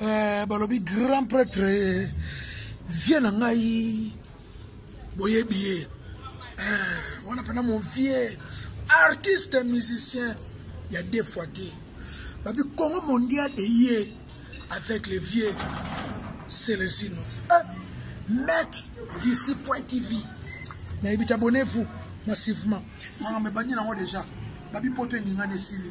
eh, balobi grand prêtre eh, vie na ngai boyebi ye eh, wana mpena mon vieux artiste musicien ya deux fois te babi congo mondial eye avec le vieux celesino eh, mec d'ici point tv nayebi te abonnez-vous massivement makambo ebandi nango déjà babi poto eningani esili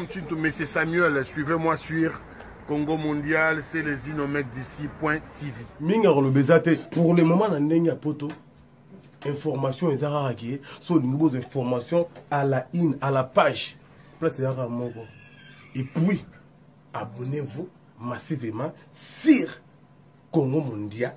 Mchintu Messe Samuel, suivez-moi sur Congo Mondial, c'est les Inomec d'ici, point TV. Minga koloba eza te. Pour le moment na ndenge ya poto, information eza kaka ke, so olingi bozo information à la une, à la page, place eza kaka moko. Et puis, abonnez-vous massivement sur Congo Mondial.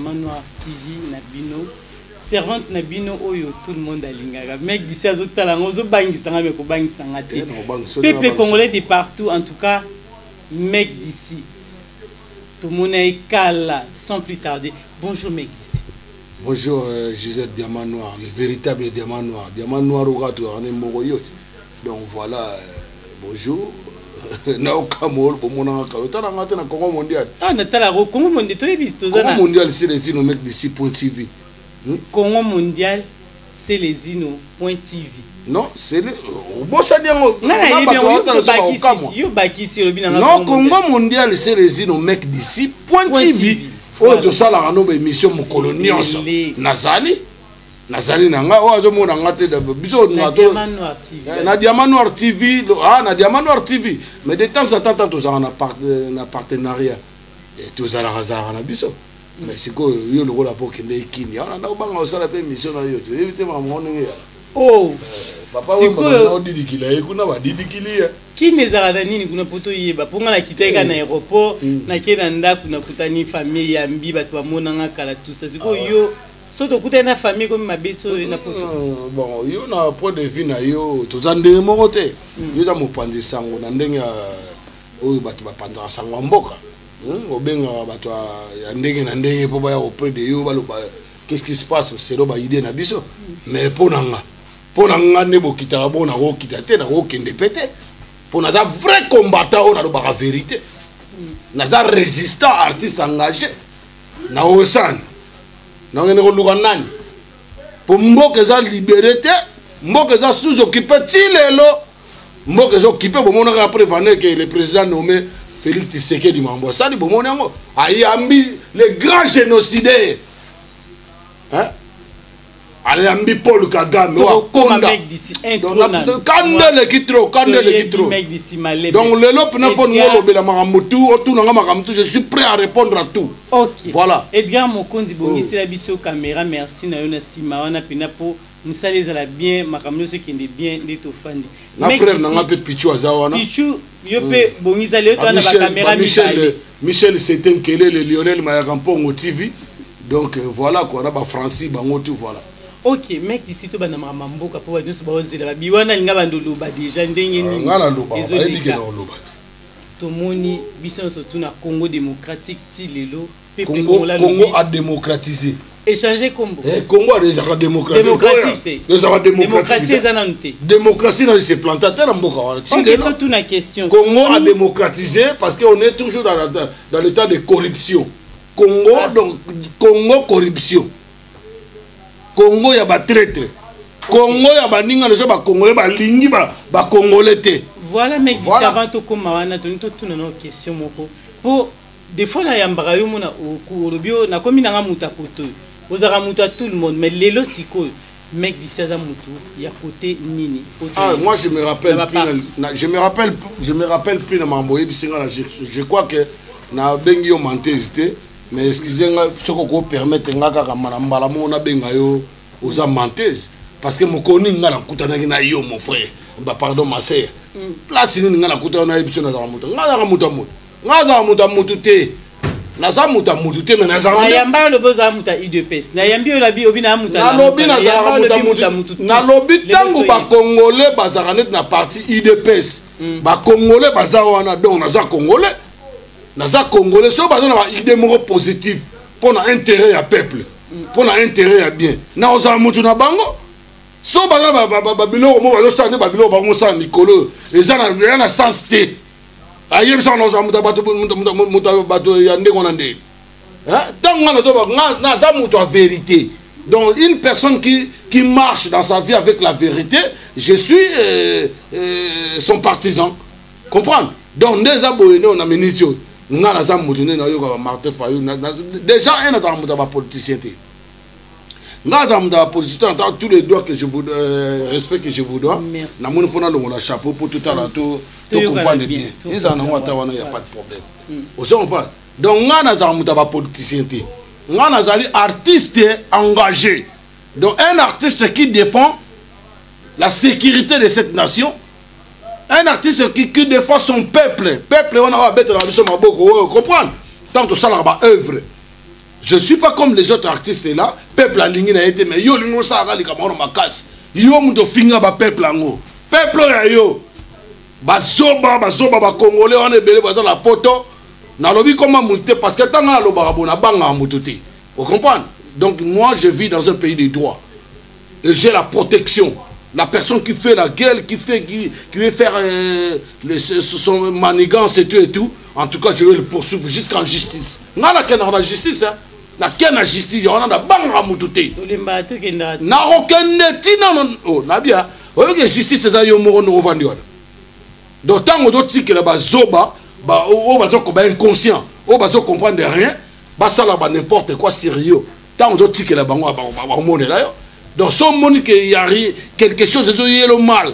Manoir TV na bino servante na bino oyo tout le monde alingaka mec d'ici azotala nga ozobangisa nga me kobangisa nga te peuple congolais de partout en tout cas Mec d'ici tomona ye kala sans plus tarder bonjour mec d'ici. Bonjour Gisèle diamant noir le veritable diamant noir diamant noir oyo kaka tozalaka ne moko yo te donc voilà bonjour na yo kamwa oyo bomonaka kaka otala nga te na congo mondial ah natala ko congo mondial toyebi toza na congo mondial sila etino mec d'ici point tv hmm? congo mondial Celezino point TV. Non, c'est le obosani yango nga na yebi yango obakisi yo bakisi olobi na nga Non, Congo mondial Celezino mec d'ici point TV. Oyo tosalaka no ba émission mokolo nyonso. Nazali nazali na ngai oyo azomona ngai te biso na diamant eh, noir tv ah, na diamant noir tv mais de temps à temps tozalaka na partenariat eh, tozalaka zalaka na biso mais sikoyo yo lokola mpo okendeki kimia wana nda obanga osala mpe émission na yo te oyebi te makambo ngo ndenge ya o oh! papa odilikila ye kuna badilikili ye kimia ezalaka na nini kuna mpo toyeba mpo ngai nakitaki ka na hmm. aéroport hmm. nake na ndako nakutani famille yambi bato bamonanga kala tusa sikoyo ah yo so tokutani na famille ekomi mabe ti oyo na poto hmm, bon yo na point de vue na yo toza ndenge moko te yo eza mopanzi sango na ndenge oyo bato bapanzaka sango ya mboka Hum obengaka bato ya ndenge na ndenge mpo baya auprès de yo baloba qu'est-ce qui se passe selon ba idée na biso mais mpo na nga mpo na nga nde bokitaka bongo nakokita te nakokende mpe te mpo naza vrai combattant oyo nalobaka vérité naza résistant artiste engagé na osani nakende koluka nani mpo mboka eza libere te mboka eza sous occupé ti lelo mboka ezo kipe bomonaka après vane ke le président nommé félix tisekedi mambo asali bomoni yango ayambi le grand génocidaire hein? ayambi paul kagame oakonda kanda eleki tro kanda eleki tro donc lelo pena fo ningo olobela makambo tu otunanga makambo tu je suis prêt à répondre à tout okay. voilà edgar mokonzi bongisela biso caméra merci na yo na nsima wana pena po Musala ezala bien makambo nioso ekende bien nde tofandi. Na frère na nga pe Pichu aza wana. Pichu yo pe hmm. bongisa leo to na ba camera mibale. Michel Sete Nkelele Lionel Mayaka Mpongo TV. Donc euh, voilà quoi na ba Francis bango tout voilà. ok mek disi tobanda makambo ya mboka mpo bato nyonso baozela babi wana alinga bando oloba deja ndenge nini ezoleka tomoni biso nyonso tuna congo démocratique ti lelo Congo, Congo a démocratisé. Échanger Congo. Eh, Congo a déjà démocratisé. Démocratique. Déjà démocratisé. eza nanu te. Démocratie na se planta te na mboka wana. Si okay, to tuna question. Congo a démocratisé parce que on est toujours dans, dans, dans l'état de corruption. Congo ah. donc Congo corruption. Congo ya ba traître. Congo ya ba ninga les ba congolais ba lingi ba ba congolais te. Voilà mais voilà. avant to koma wana to tuna no question moko. Pour De fois na yambaka yo mona oku olobi yo nakomi nanga mutu ya cote oyo ozalaka mutu ya tout le monde mais lelo sikoyo mec d'ici aza mutu ya cote nini po ah moi je me rappelle plus na, je me rappelle je me rappelle plus na mambo oyebisi nga na je, je crois que na bengi yo menteuse te mais excuse nga soko ko permettre nga kaka mana mbala moko na benga yo oza menteuse parce que mokoni nga na kutanaki na yo mon frère ba pardon ma sœur mm. place nini nga na kutanaki na yo biso na zaka mutu nga zaka mutu amoto nga azala moto ya motu te naza moto ya motu te me nazanayamba yo lobi ozala moto ya udps nayambi yo labi obi naa moto nalobi nazalaka moto ya motu nalobi ntango bakongole bazalaka neti na parti udps hmm. bakongole baza wana donc naza kongole naza kongole soki baza na baide moko positive mpo na intérêt ya peuple hmm. mpo na intérêt ya bien na ozala motu na bango so baza na babiloko moko bazosala nde babiloko bango mosala mikolo eza na sens te ayebisaka naoza moto ya bato ya ndenge wana nde ntango nga nazoba nga naza moto ya verité donc une personne qui, qui marche dans sa vie avec la vérité je suis euh, euh, son partisan comprendre donc nde eza boye nde na minute oyo nga naza moto nde nayoka ba martin fayo déjà un azala moto ya bapoliticien te nga aza moto ya politicien ata tous les doigts que je vous euh, respect que je vous dois namoni fo nalongola chapeau mpo totala to tocomprendre bien ezala nango ata wana ya pas de problème hmm. ozo comprendre donc nga nazala moto ya bapoliticien te nga nazali artiste engagé donc un artiste qui défend la sécurité de cette nation un artiste qui, qui défend son peuple peuple wana oyo abetela biso maboko oyo comprendre ntango tosalaka baœuvre je suis pas comme les autres artistes là peuple alingi na ye te mais yo olingi osalaka likambo wana makasi yo moto ofinga bapeuple yango peuple oyo ya yo bazoba bazoba bakongole wana ebele baza na poto nalobi koma moto te parce que ntango nalobaka bo nabangaka moto te ocomprendre donc moi je vis dans un pays de droit Et j'ai la protection. La personne qui fait la gueule, qui fait, qui, qui veut faire euh, le, son manigance et tout et tout, en tout cas, je vais le poursuivre jusqu'en justice. Nga na kena la justice, hein. Na kena justice, y'en a na banga mutute. Olimba tu kenda. Na rokende tina non. Oh, na bien. Oyo que justice eza yo moko no vandi wana. Donc tango do tikela ba zoba, ba o ba zo ko ba inconscient, o ba zo comprendre rien, ba sala ba n'importe quoi sérieux. ntango totikela bango bakomonela yo donc so omoni ke ya quelque chose ezoyelo mal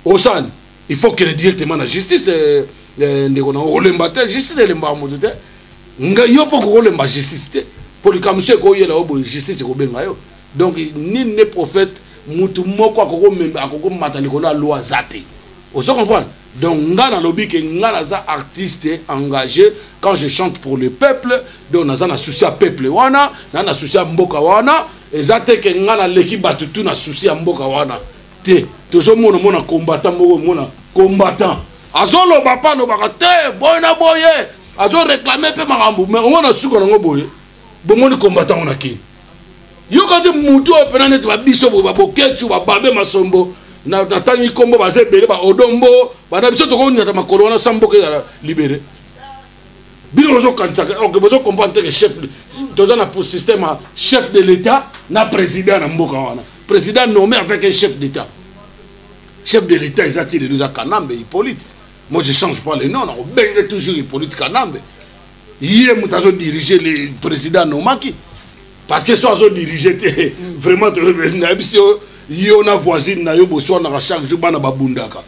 osani il faut kele directement na justice eh, eh, ndeko nango olemba te justice elembaka moto te nga yo mpo kokolemba justice te mpo likambo so ekoyela yo boye justice ekobenga yo donc nini ne prophète motu moko akokomata likolo ya loi aza te ozo comprendre Donc nga na lobi ke nga naza artiste engage quand je chante pour le peuple donc naza na souci ya peuple wana na na souci ya mboka wana eza te ke nga na leki batu tout na souci ya mboka wana te tozo mona mona combattant moko mona combattant azo loba pa lobaka te boye na boye azo reclamer pe makambo mais omona suka nango boye bomoni combattant wana kini yoka te mutu oyo mpena neti babiso boye babokecu bababe masombo natangi nkombo baza ebele baodombo bana biso tokonyata makolo wana sa mboka ezala libere bino bozokanisaka ok bozo comprendre teke chef toza na système ya chef de l'état na président na mboka wana président nommé avec un chef d'état chef de l'état eza ti lelo eza kanambe hippolyte moi je change pas le nom nakobenge toujours hippolyte kanambe ye moto azo dirige le président nomaki parce que so azo dirige te mm. vraiment nayebisi yo yo na voisine na yo boswanaka chaque jour bana babundaka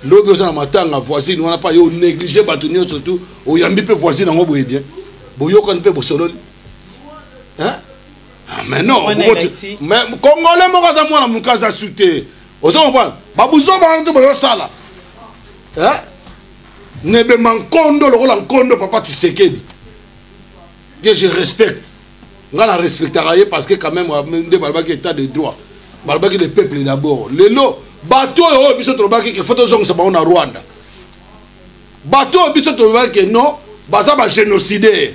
lobi oza na matanga voisine wana mpa yo onéglige bato nyonso tu oyambi mpe voisine yango boye bien boyokani mpe bosololi ah, mais non congolais moko aza mwana moke aza su te ozo comprendre babuzoba wana te bozosala Nebema nkondo lokola nkondo papa Tshisekedi que je respecte nga na respectaka ye parce que quand même nde balobaki état de droit balobaki le peuple d'abord lelo bato oyo oyo biso tolobaki ke fo tozongisa bango na rwanda bato oyo biso tolobaki ke non baza bagénocidaire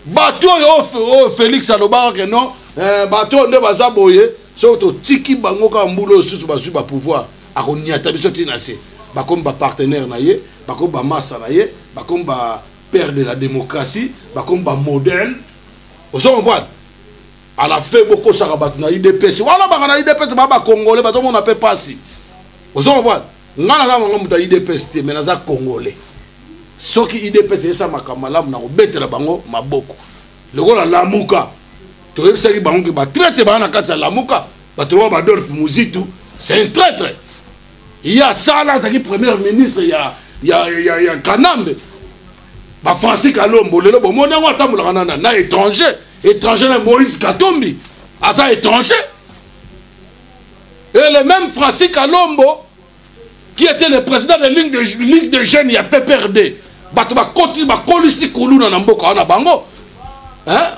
bato oyo oyo félix alobaka ke non eh, bato oyo nde baza boye soki totiki bango kaka mbula oyo susu bazwi bapouvoir Akonyata biso ti na se. Bakomi ba partenaires na ye, bakomi ba masta na ye, bakomi ba pères de la democratie, bakomi ba modèles. Ozo comprendre? A la fin bokosaka bato na udps. Wana baka na udps ba ba congolais bazo mona pe pasi. Ozo comprendre? Nga naza nanga moto ya udps te mais naza congolais. Soki udps esa makambo malamu na kobetela bango maboko. Lokola lamuka toyebisaki bango ke ba traite baa na kati ya lamuka. bato lokola badolphe muzitu c'est un traitre ye asala azalaki premier ministre ya, ya, ya, ya kanambe bafrancis kalombo lelo bomoni yango atambolaka nana na étranger étranger na moïse katumbi aza étranger et le même francis kalombo qui était le président de ligue de, ligue de jeunes ya pprd bato bakolisi kuluna na mboka wana bango hein?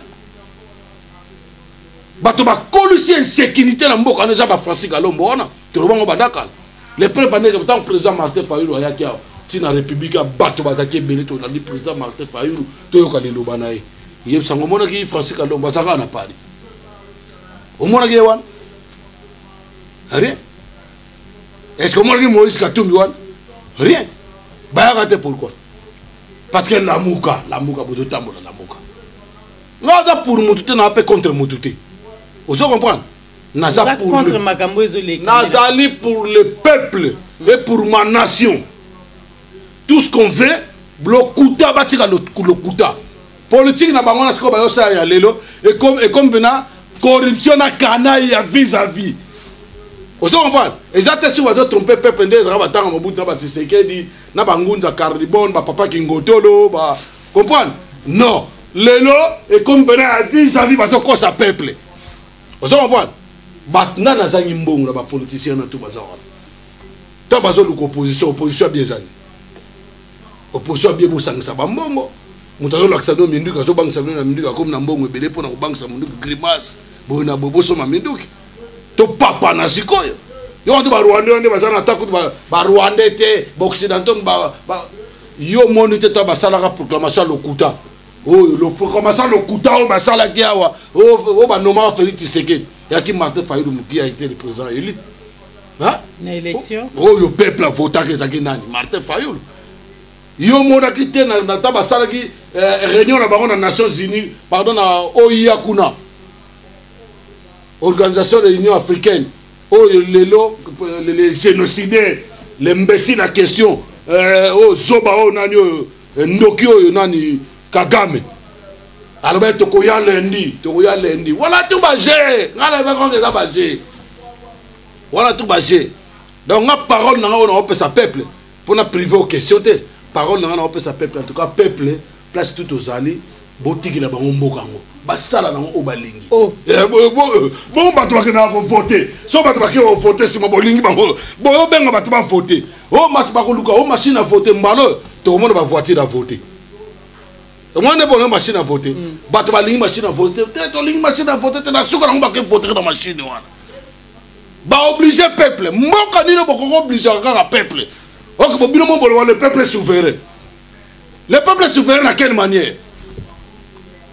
bato bakolisi insécurité na mboka wana eza bafrancis kalombo wana toloba yango badakala le preuve andeke ntango président martin fayulu ayaki awa ntina république ya bato bazalaki ebele tolandi président martin fayulu toyoka liloba na ye yebisa yango omonaki francis kalombo azalaka na paris omonaki ye wana rien est ce que omonaki moïse katumbi wana rien bayaka te pourquoi parce que lamuka lamuka bozotambola lamuka nga aza pour mutu te naa mpe contre mutu te ozo comprendre naza contre makambo ezoleka nazali pour le peuple et pour ma nation tout ce qu'on veut lokuta batika lokuta politike na bango na sikoyo bayosala ya lelo ekomi mpena corruption na kanai ya vis à vis ozo comprendre eza te soki bazo trompe peuple nde ezalaka batanga mobutu na batisekedi na bangunza carlibone bapapa kingotolo ba comprendre non lelo ekomi pena ya vis à vis bazokosa peuple ozo comprendre bato nani azangi mbongo na bapoliticien na to baza wana ntango bazoluka opposition opposition abie ezali opposition abie bosangisa bambongo moto azolakisa bino minduki azobangisa bino na minduki akomi na mbongo ebele mpo na kobangisa minduki grimace boye na boye bosomba minduki topapana sikoyo yo wato barwandais nde baza na ata kutu barwandais te baoccidentaux yo omoni te to basalaka proclamation ya lokuta oyo proclamation ya lokuta oyo basalaki awa oyo banomaka félix tshisekedi yaki martin fayulu mokia ete le président élu oyo peuple avotaki ezalaki nani martin fayulu yo omonaki te nata basalaki eh, réunion na bango na nations unies pardon na oia kuna organisation de l'union africaine Oyo lelo les genocidaires l'imbecile à question euh, oyo zoba oyo nani oyo eh, ndoki oyo nani Kagame alobaki tokoya lundi tokoya lundi wana tu baje ngai nayebaki eza baje wana tu baje donc nga parole na ngai oyo naopesa peuple pona prive o question te parole na nga naopesa peuple en tout cas peuple place tout ozali botikela bango mboka yango basala nango oyo balingi oh. eh, bongo bato bakendaka kovote so bato bakei kovote nsima bolingi bango boyobenga bato bavote o oh, mas bakoluka o oh, machine avote mbala oyo tokomona bavoitire avote omoni nde bono machine avote mm. bato balingi machine avote te tolingi machine avote te na suka nango bakevotere na machine wana ba oblige peuple mboka nino bokoko oblige kaka peuple ok bo bino moboloba le peuple souverain le peuple souverain na quelle manière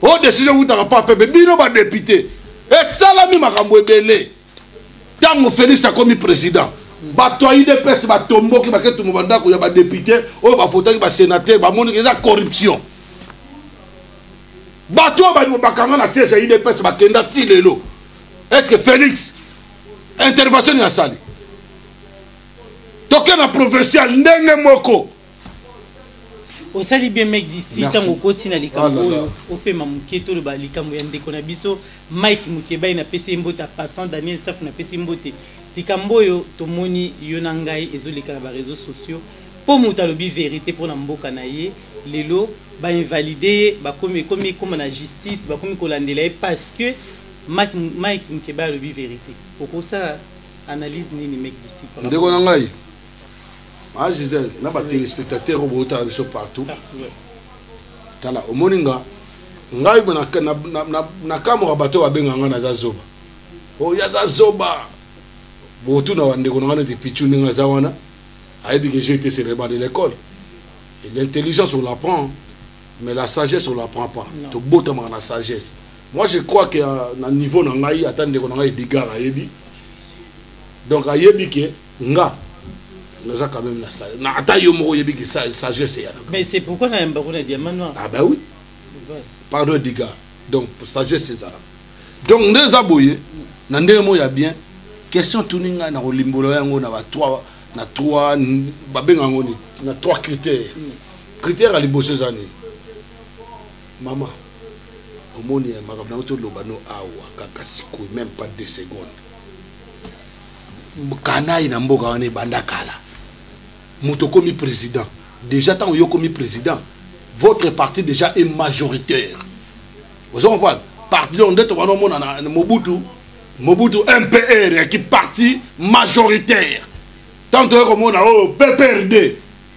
o oh, décision wutaka pa peuple bino badepute esalami makambo ebele ntango félix akomi président bato ya udps batomboki baketumu bandako ya badepute oyo bavotaki basénateur bamoniki eza corruption bato oyo bakanga na siège ya udps bakenda ti lelo est ce que félix intervention nini asali toke na provincial ndenge moko osali bien mec d'ici ntango okoti na likambo ah oyo opema moke toloba likambo ya ndeko na biso mike mokebai napesi ye mbote passant daniel safu napesi mbote likambo oyo tomoni yo na ngai ezoleka na bareseau sociaux mpo moto alobi verité mpo na mboka na ye lelo bainvalide ye bakomi ekomi ekoma na justice bakomi kolandela ye parce que Mike mukebay alobi verite okosala analyse nini mec d'ici pona ndeko na ngai ma Gisèle na ba telespectateurs oyo botala biso partout tala omoni nga ngai nakamwaka bato babenga ngai naza zoba oyo oh, aza zoba botuna bandeko na ngai neti pichu ndenge aza wana ayebi que j'ai été célèbre de l'école et l'intelligence on l'apprend mais la sagesse on l'apprend pas tobotamaka na sagesse moi je crois que euh, na niveau na ngai ata ndeko na ngai edgar ayebi donc ayebi ke nga naza quand même na sagesse na ata yo moko oyebi ke sagesse eyana mais c'est pourquoi na yamba kuna diamant noir ah bah oui pardon edgar donc sagesse ezalaka donc nde eza boye na ndenge moko ya bien question tuni ngai na kolimbola yango na ba 3 na 3 babenga yango na 3 critères mm. Critere ya liboso eza nini mama omoni ya makambo nango toloba no awa kaka sikoyo meme pas deux secondes kanai na mboka wana ebanda kala moto okomi président déjà ntango yo okomi président votre parti déjà est majoritaire ozo comprendre parti donc nde tobanda omona na mobutu mobutu mpr yaki parti majoritaire ntango toye komona oyo oh, pprd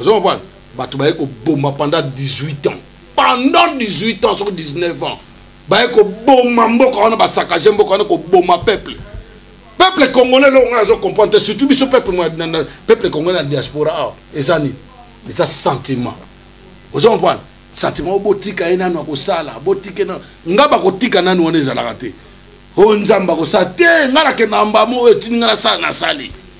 ozo comprendre bato baye koboma pendant 18 ans pendant 18 ans soki 19 ans baye koboma mboka wana basakage mboka wana koboma peuple peuple congolais eloko ngai azo comprendre te surtout biso peuple peuple congolais na diaspora awa ah, eza nini eza sentiment ozo comprendre sentiment botika ye nanu akosala botika ye nanu ngai bakotika nanu wana ezalaka te oyo nzambe akosala te ngai nakenda mbamo oyo etindi ngai nasala nasali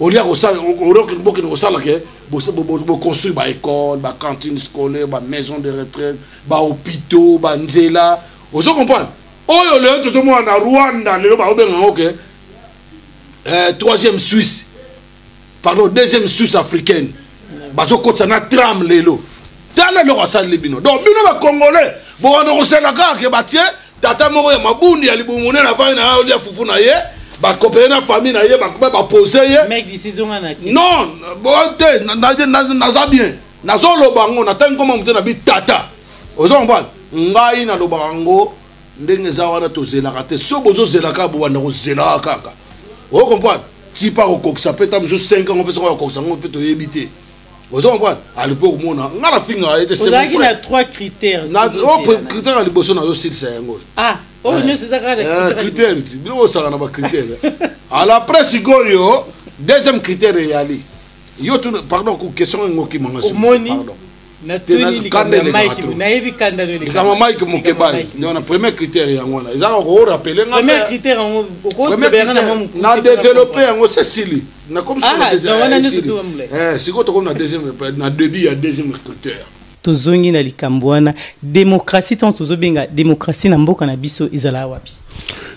olia kosala orokende bokende kosala ke boconstruire baécole bacantine scolaire bamaison de retraite bahôpitaux banzela ozo comprendre oyo lelo tozomona na rwanda lelo baobenga yango ke eh, troisième suisse pardon deuxième suisse africaine bazokotisa na tram lelo tala eloko asaleli bino donc bino bacongolais bokanda kosela kaka ke batie tata moko ya mabundi ya libumu nene avandi na olia fufu na ye bakopele na famille na ye bapose ye non te naza bien nazoloba yango natangi koma mote na bi tata oza mobali ngai nalobaka yango ndenge eza wana tozelaka te so bozozelaka bobanda kozelaka kaka oyo comprendre tipa kokokisa mpe ta mosusu 5 yango mpe soko bakokisa yango mpe toyebi te ozo comprendre alingi mpe komona nga na finga ye te ozalaki na trois critères na oh, critère ya liboso nazo silisa yango ah oyo oh, eh. nyonso ezaka na eh, critère bino osaka na bacritère ala après sikoyo deuxième critère eyali yo tu pardon ku question yango kimanga omoni likambo mike mokebali donc na premier critère yango wana ezaka korappele nga na developpe yango sesili nakomi sikoyo na Ah, deuxième- donc wana eh, nioso esili. double. Eh, sikoyo tokomi na deuxième na début ya deuxième recruteur tozongi na likambo wana demokrasi ntango tozobenga demokrasi na mboka na biso ezalaka wapi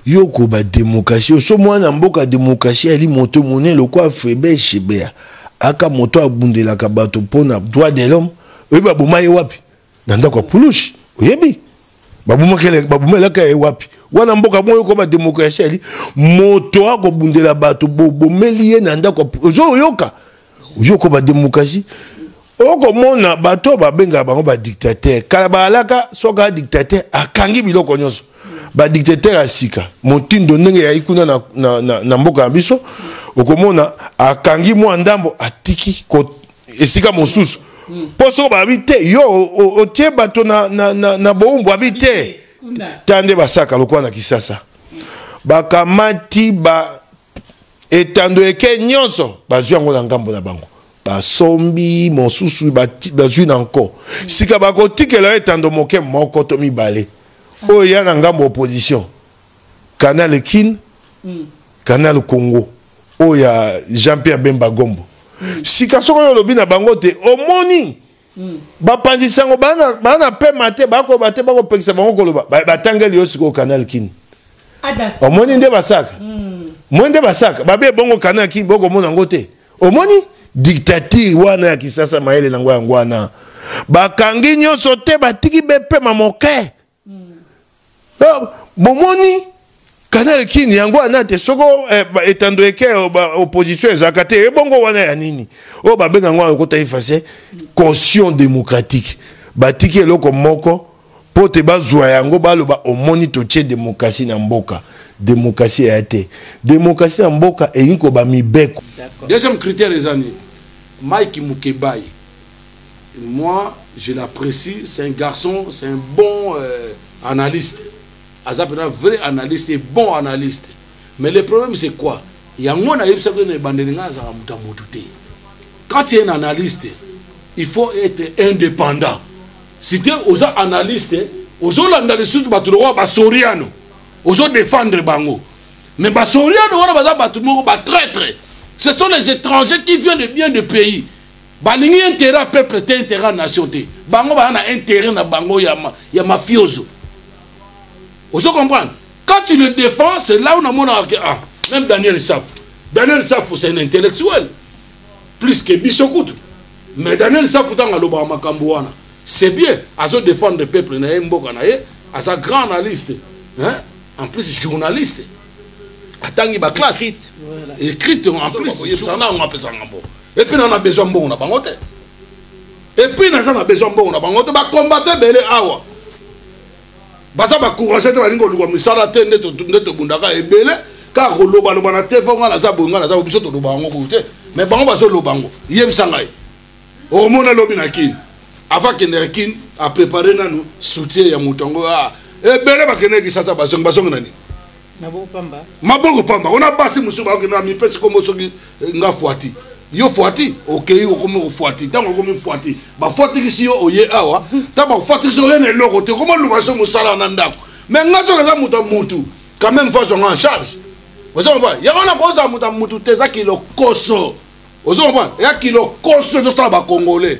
yo koba demokrasi oso mwana mboka demokrasi ali moto monene lokola frebe shebea aka moto abundelaka bato mpo na droit de l'homme oyebi baboma ye wapi na ndako ya pulushi oyebi babomelaka ye wapi wana mboka moko ekoma demokrasi ali moto akobundela bato bobomeli ye na ndako ozoyoka oyoko bademokrasi okomona bato oyo babengaka bango badictatere kala baalaka soki aa dictatere akangi biloko nyonso badictatere ya sika motindo ndenge eyai kuna na, na, na, na mboka ya biso okomona akangi mwa ndambo atiki esika mosusu mpo soko babi te yo otie bato na, na, na, na boumbu abi te ta nde basaka lokola na kisasa bakamati ba etando eke nyonso bazwi yango na ngambo na bango basombi mosusu bazwi na nko sika bakotikela yo etando moke moko to mibale oyo ya na ngambo opposition canal kin mm. canal congo oyo ya jean pierre bemba gombo mm. sika soko oyo olobi na bango te omoni mm. bapanzi sango bana na pema te bakoba te bakopekisa bango koloba batangeli yo sikoyo canal kin omoni nde basaka mm. moi nde basaka babe ebongo canal kin bokomona yango te omoni dictature wana ya kisasa mayele na yango yango wana bakangi nyonso te batiki bepema moke Ah, bomoni canal kin yango wana te soko eh, etando eke eh, opposition ezalaka te ebongo eh, wana ya nini oyo oh, babenga yango alokota efase caution démocratique batiki eloko moko mpo te bazwa yango baloba omoni totie demokrasi na mboka demokrasi eya te demokrasi na mboka elingi koba mibeko deuxième critère eza nini mike mukebayi moi je l'apprécie c'est un garçon c'est un bon euh, analyste aza pena vrai analyste et bon analyste mais le problème c'est quoi yango nayebisaki yo na ebandeli ngai azalaka moto ya motu te quand tu es un analyste il faut être indépendant si te oza analyste ozolanda lisusu bato lokola basoriano ozodefendre bango mais basoriano wana baza bato moko batraitre ce sont les étrangers qui viennent de bien de pays Balingi interet ya peuple te interet ya nation te bango baya na interet na bango ya, ma, ya mafiozo ozo comprendre quand tu le défends c'est là où namonaka ke ah même Daniel Safu Daniel Safu c'est un intellectuel plus que biso kutu mais Daniel Safu ntango alobaka makambo wana c'est bien azo défendre peuple na ye mboka na ye aza grand analyste hein? en plus journaliste atangi baclasse écrite en plus yebisaka na yango apesaka ngambo epuis na na besoin mbongo na bango te epuis naza na besoin mbongo na bango te bakombata ebele awa baza bacourage te balingi koluka misala te nde tobundaka ebele kaka kolobaloba na te mpo ngai naza boye ngai naza biso toloba yango kuku te me bango bazoloba yango yebisa ngai omona lobi na kini avant kendeke kini aprépare nanu soutien ya moto yango ah, ebele bakendeki sata bazongi bazongi na nini maboko pamba maboko pamba ona basi mosusu baoki na mipesi kombo soki eh, nga fuati yo fuati okei okomi kofuati ntango okomi fuati bafuatikisi yo oye awa ta bafuatikisi oye na eloko te okoma luka so mosala na ndako me nga so naza moto ya motu quand même fois zonga en charge ozo comprendre yango na kozala moto ya motu te eza kilokoso ozo comprendre eza kilokoso ezosala bacongolais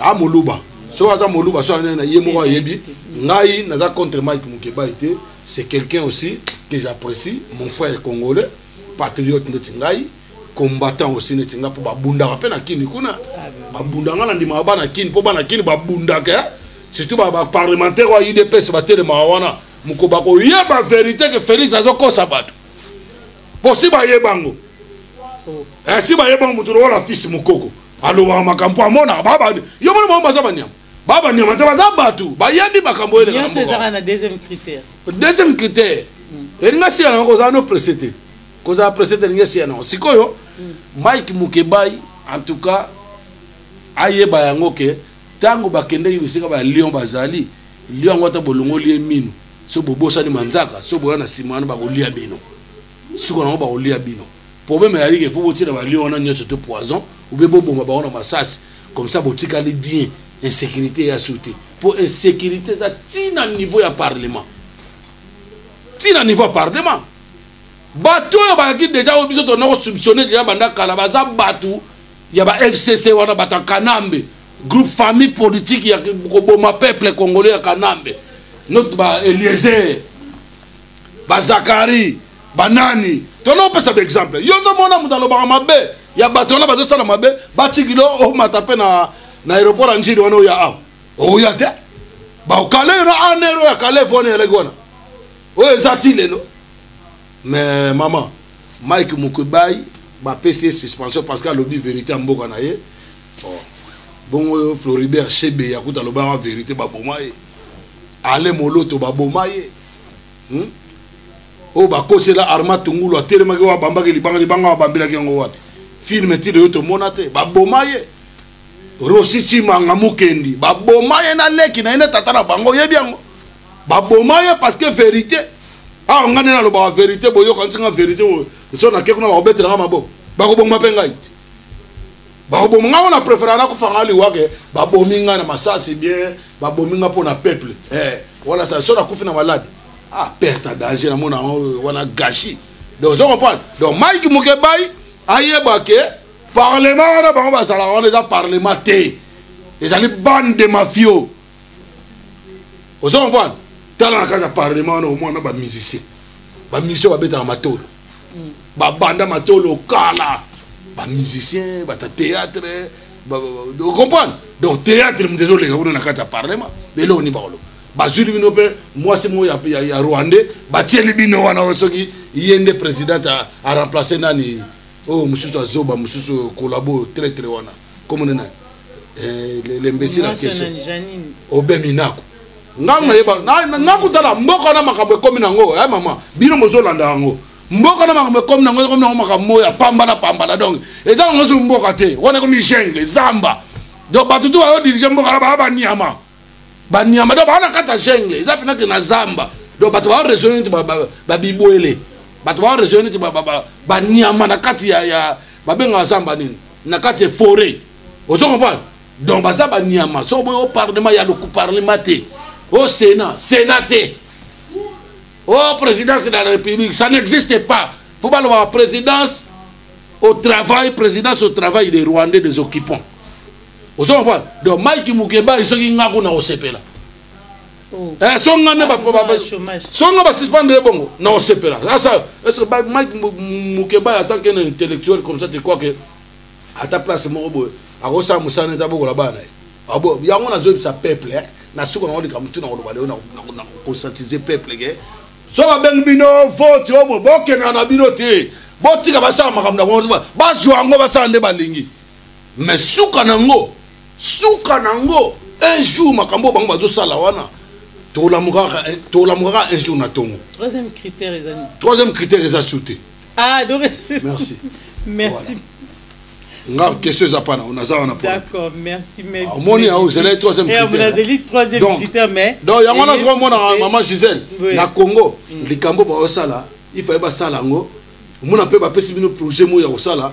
a moluba soki aza moluba soki aza na ye moko ayebi ngai naza contre mike mukebayi te c'est quelqu'un aussi que j'apprécie mon frère congolais patriote ndeti ngai combattant aussi neti nga mpo babundaka mpe na kini kuna babunda nga na ndimaka bana kini mpo bana kini babundaka eh. surtout baparlementaire oyo idps batelemaka wana moko bakoyeba verité ke félix azokosa bato mpo si bayebango oh. eh, si bayebango moto lokola fils mokoko alobaka makambo amonaka baba yo mona bango baza banyama ba banyama te baza bato bayebi makambo oyo elekanyonso ezaka na deuxième critère deuxième critère mm. elingi asiya nango kozala no presse te kozala presse te elingi asiya nango sikoyo mm. mike mukebai en tout cas ayeba yango ke ntango bakendeki bisika ba lion bazali lion yango ata bolongoli ye mino so bobosani manzaka so boya na nsima wana bakolia bino siko nango bakolia bino Problème ezali ke faut botiela ba lion wana nyonso te poison ou bien boboma bango na masasi comme ça botikali bien insécurité ya su te mpo insécurité eza ti na niveau ya parlement ti na niveau ya parlement bato oyo bayaki deja oyo biso tona kosubtionne deja banda kala baza bato ya ba fcc wana bato ya kanambe groupe famille politique ya koboma peuple congolais ya kanambe notre ba eliezer ba zakari banani tona opesa ba exemple yo ozomona moto alobaka mabe ya bato wana bazosala mabe batikilo omata mpe na na aéroport ya njili wana oya awa oya te bakale yo na anero ya kale vona eleki wana oyo eza ti lelo mais mama mike mokubai bapesi ye suspension parce que alobi vérité ya mboka na ye oh. bongo floribert shebe yakuta alobaka vérité baboma ye ale moloto baboma ye hmm? oyo bakosela arma tungulu atelemaki oyo abambaki libanga libanga babambelaki yango wapi filme tino yo tomona te baboma ye rosi cimanga mukendi baboma ye na leki na ye na tata na bango oyebi yango baboma ye parce que verité awa ah, ngai nde nalobaka verité boyokanisi ngai verité so nake kuna bakobetela ngai maboko bakoboma mpe ngai bakoboma ngai wana prefera nakufa ngai liwa ke babomi ngai na masasi bien babomi ngai mpo na peuple eh, wana sa so nakufi na malade ah perte ya danger namona yango euh, wana gashi donc ozo comprendre donc mike mukebai ayeba ke parlement wana bango bazalaka wana eza parlement te ezali bande de mafio ozo comprendre tala na kaka parlement wana omona ba musicien ba musicien babetaka matolo mm. babanda matolo kala ba musicien bata théâtre ocomprendre donc théâtre moto ezoleka kuna na kati ya parlement eloko nini bakoloba bazwili bino mpe mwasi moko ya rwandais batieli bino wana soki ye nde présidente aremplace nani oyo oh, mosusu azoba mosusu kolabo traitre wana kombo na nani eh, lembesila keso obemi nako ngai nayeba ngai kutala mboka na makambo ekomi nango e eh, mama bino bozolanda yango mboka na makambo ekomi nango ekomi nango makambo oyo ya pamba na pamba na donc eza nango soki mboka te wana ekomi jungle zamba donc bato tu bazodirige mboka na baa baniama ba nyama do ba na kata jungle eza pena ke na zamba do bato ba raisonner neti ba, ba, ba bibwele bato ba raisonner neti ba, ba, ba, ba nyama na kati ya, ya babenga zamba nini na kati ya forêt ozo comprendre donc baza ba nyama so boyo parlement ya loku parlement te au sénat sénat te au présidence de la république ça n'existe pas faut baloba présidence au travail présidence au travail des rwandais des occupants ozo comprendre donc mike mukebay soki nga kuna kosepela oh. eh, so nga nde so nga basuspendre ye bongo na kosepela asa est ce que mike mukebay en tant qu'un intellectuel comme ça te crois que ata place moko boye akosala mosala neti abokola bana ye ah, yango nazoyebisa peuple eh. na suka nango likambo tu nakoloba leo nakosantise peuple ke so babengi bino vote omo bokendaka na bino te botika basala makambo na bazwa yango basala nde balingi mais suka na yango suka na yango un jour makambo bango bazosala wana tolamukaka eh, un jour na tongo troisième critère eza nini troisième critère eza su te ah donc merci merci nga question eza pana naza wana d'accord merci mais ah, omoni awo ezalaki eh, troisième critèreazali troisième critère mais donc yango wana toka omonaka maman gisèle na congo mm. likambo baosala ifaye basala yango omona mpe bapesi bino projet moko ya kosala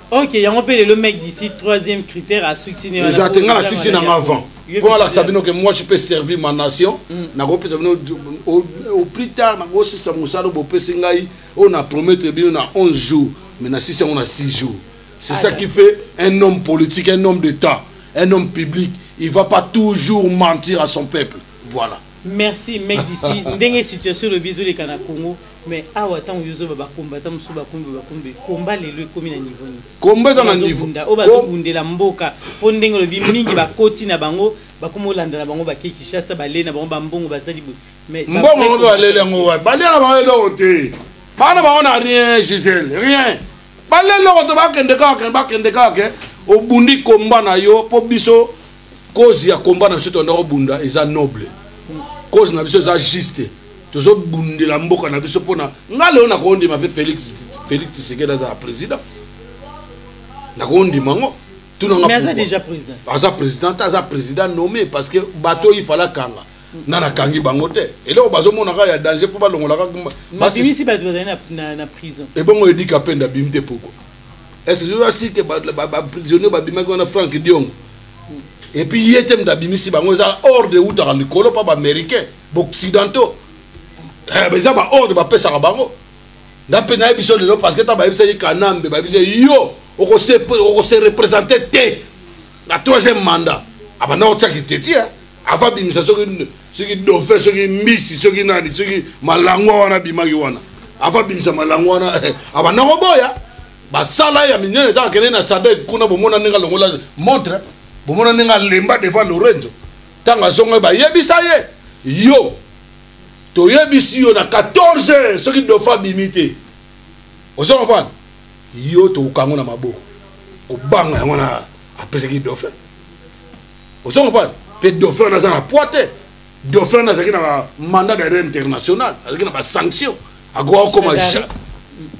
ok yango mpe lelo mec d'ici troisième critère asukisi eza te ngai nasisi nanga avant mpo alakisa bino ke moi je peux servir ma nation mm. nakopesa bino au plus tard nakosisa mosala oyo bopesi ngai oyo na promettre bino na 11 jours mais nasisi yango na 6 jours c'est ça qui fait un homme politique un homme d'état un homme public il va pas toujours mentir à son peuple voilà Merci mec d'ici ndenge situation lobi ezoleka na Congo mais awa tango yo zoba ba combattant musu ba kumbi ba kumbi combat lelo ekomi na niveau ni combat eza na niveau nda oba zo bundela mboka po ndenge lobi mingi ba koti na bango ba komo landa na bango ba ke Kinshasa ba le na bango ba mbongo ba sali boye mais mbongo ngo ba lele ngo wa ba lele ba lele ote bana ba ona rien Gisèle rien ba lele ote ba kende ka ke ba kende ka ke obundi combat na yo po biso cause ya combat na biso tolanda kobunda eza noble cause na biso eza juste tozobundela mboka na biso mpona nga lelo nakondima mpe félix félix tisekedi azala président nakondima yango aza président te aza président nommé parce que bato oyo ifala kanga na nakangi bango te eloko bazomonaka ya danger mpo balongolaka ebongo edika mpe ndabimi te poko est-ce que oza sike baprisonnier babimaki wana frank diongo epuis ye te moto abimisi bango eza ordre eutaka likolo mpa baaméricain baoccidentaux eh, eza baordre bapesaka bango nga mpe nayebi biso lelo parce que ntango bayebisaki kanambe bayebisaki yo okose représente te na troisième mandat abanda kotia kitetia afa bimisa soki soki dofe soki mbisi soki nani soki malangwa wana abimaki wana afa bimisa malangwa wana abanda eh, koboya basala ye ya minene ntango akende na sadek kuna bomona ndenge alongola montre bomona ndenge alemba devant lorenzo ntango azongai bayebisa ye yo toyebisi yo na 14 heures soki dofa abimi te ozo comprendre yo tokokango na maboko kobanga yango na apesaki dofe ozonga pale mpe dauphin wana aza na poids te dauphin wana azalaki na mandat d'arrêt international azalaki na basanction akoka kokoma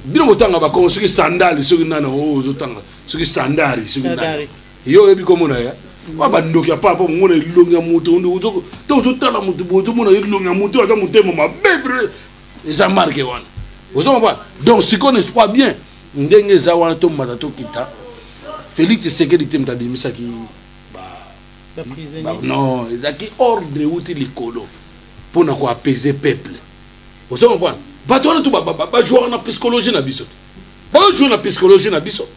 bino botanga bakongo soki sandali soki nani oyo ozotanga soki sandari soki nani yo oyebi komona ya wa bandoki ya papa omona elongi ya moto to ozotala moto boye ozomona elongi ya moto aza motema mabe vre eza marke wana ozomaba donc sikoyo ne crois bien ndenge eza wana tomata tokita félix tshisekedi te moto abimisaki non ezalaki ordre euti likolo mpo na koapaiser peuple ozo comprendre bato wana tu bajouaka na psychologie na biso bajoue na psychologie na biso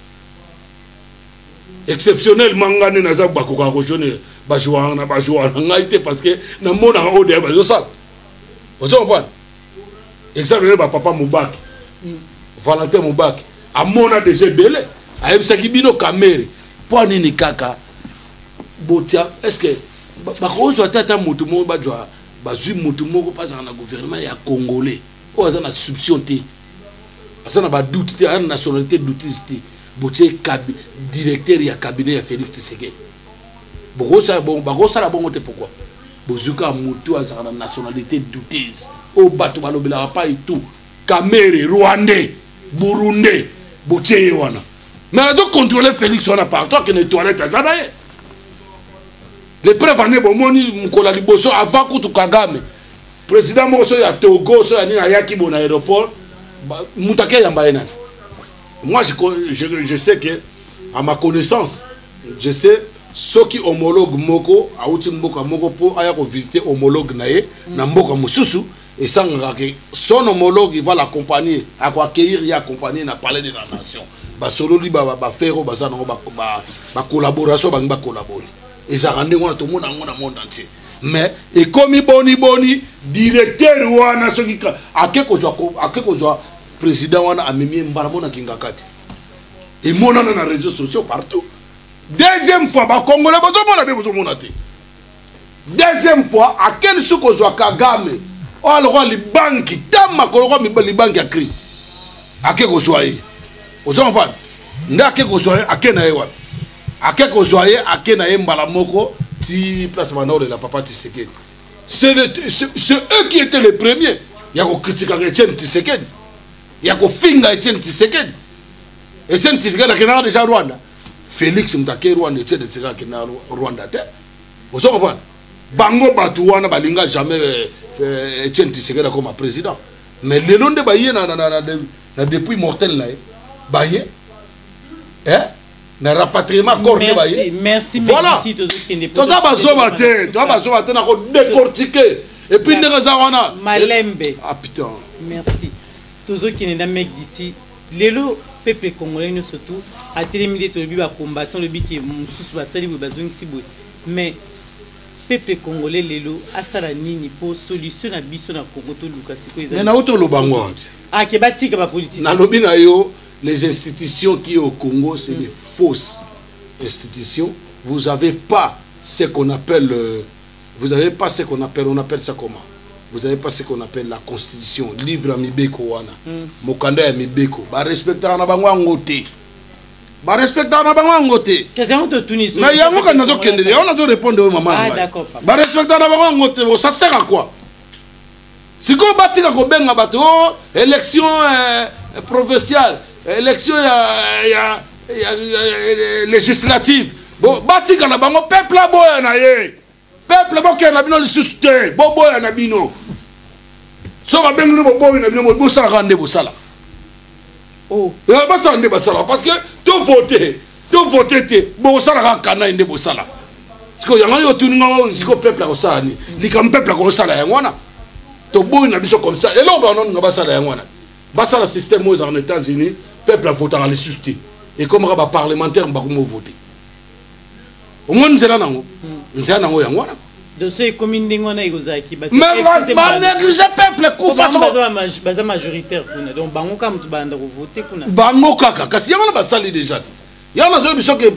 exceptionnel mangani naza bakokaka kojoune bajouaka na bajouaka na ngai te parce que namonaka oyo deya bazosala ozo comprendre exemple nde bapapa mobaki valentin mobaki amona deja ebele ayebisaki bino kamere mpo nini kaka botia estce bakozwa te ata motu moko bajwa bazwi motu moko mpo azala na gouvernement ya congolais oyo aza na souption te aza na badoute te aza na nationalité doutise te botie directeur ya cabinet ya félix tshisekedi bakosala bongo te pourquoi Bozui kaka mutu oyo azalaka na nationalite douteuse oyo bato balobelaka pai tu kamere rwandais burundais botie ye wana me azo controle felix wana partout akende toilette aza na ye le preuve ane bomoni mokolo ya liboso avant kutu kagame président moko so ya togo so ya nini ayaki bo na aéroport moto ake yamba ye nani Moi, je, je, je sais que, à ma connaissance, je sais soki homologue moko awuti mboka moko mpo aya kovisite homologue na ye mm. na mboka mosusu esangaka ke son homologue va l'accompagner akoaccueillir ye accompagner na palais de la nation basololi bafere oyo baza nango bacollaboration bangi bacollabore ezalaka ndenge wana tomona yango na monde entier mais ekomi boni boni directeur wana soki ake kozwa president wana amemi ye mbala mona kingakati emonana na réseaux sociaux partout deuxième fois bakongole bozomona be bozomona te deuxième fois akeli soki kozwa kagame oyo alokwa libanki ntango makolokwa libanki ya cri ake kozwa ye oza kompane nde ake kozwa ye ake na ye wapi ake kozwa ye ake na ye mbala moko ti place banda olela papa tisekedi c'est eux qui étaient les premiers ya kokritikaka etienne tisekedi ya kofinga etienne tisekedi etienne tisekedi akendaka deja rwanda félix moto ake rwanda etienne tisekedi akenda rwanda te ozo comprendre bango bato wana balinga jamais euh, euh, etienne tisekedi akoma président mais lelo nde baye na depuis mortel na ye baye eh? na rapatriement corps nde baye voilà toza bazoba te toza bazoba te na kodecortike epuis ndenge eza wana malembe ah putain merci tozokende na mec d'ici lelo peuple congolais nyonso tout atelemi nde tolobi bacombattant lobi ke mosusu basali boye bazongisi boye mais peuple congolais lelo asala nini mpo solution na biso na congo toluka sikoyo ezali nauti oloba ngo ake batika bapolitisi nalobi na yo Les institutions qui est au Congo, c'est des fausses institutions. Vous n'avez pas ce qu'on appelle, euh, vous n'avez pas ce qu'on appelle, on appelle ça comment Vous n'avez pas ce qu'on appelle la constitution, livre à Mibeko wana, mm. Mokanda ya Mibeko. Ba respectaka na bango yango te. Ba respectaka na bango yango te. Kasi yango totuni so. Mais yango kani nazokende, yango nazorépondre oyo mama. Ah d'accord. Ba respectaka na bango yango te, ça sert à quoi sikoyo batika kobenga bato o oh, élection eh, provinciale élection ya, ya, ya, ya, ya législative bon, batika na bango peuple aboya na ye peuple bokende na bino lisusu te boboya na bino so babengi bino boboyi na bino bosalaka nde bosalaka oh. eh, basala nde basala parce que to vote to vote te bosala kaka kanai nde bosala sikoyo yango yo otuni ngai sikoyo peuple akosala nini likambo peuple akosala yango wana toboyi na biso comme ça eloko banonga basala yango wana basala système oyo ezala na états-unis peuple avotaka lisusu te ekomaka baparlementaire bakomi ovote omoni nzela nango nzela nango yango wana doso ekomi ndenge wana ekozalaki banéglige peuple kufabaza majoritaire kuna donc bango kaka moto balanda kovote kuna bango kaka kasi yango wana basali déjà te yango nazoyi biso ke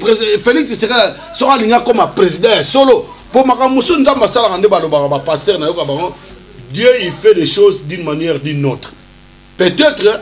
félix tisekala soko alingi akoma président ya solo mpo makambo mosusu nzambe asalaka nde balobaka bapaster nayoka bango dieu il fait des choses d'une manière d'une autre peut-être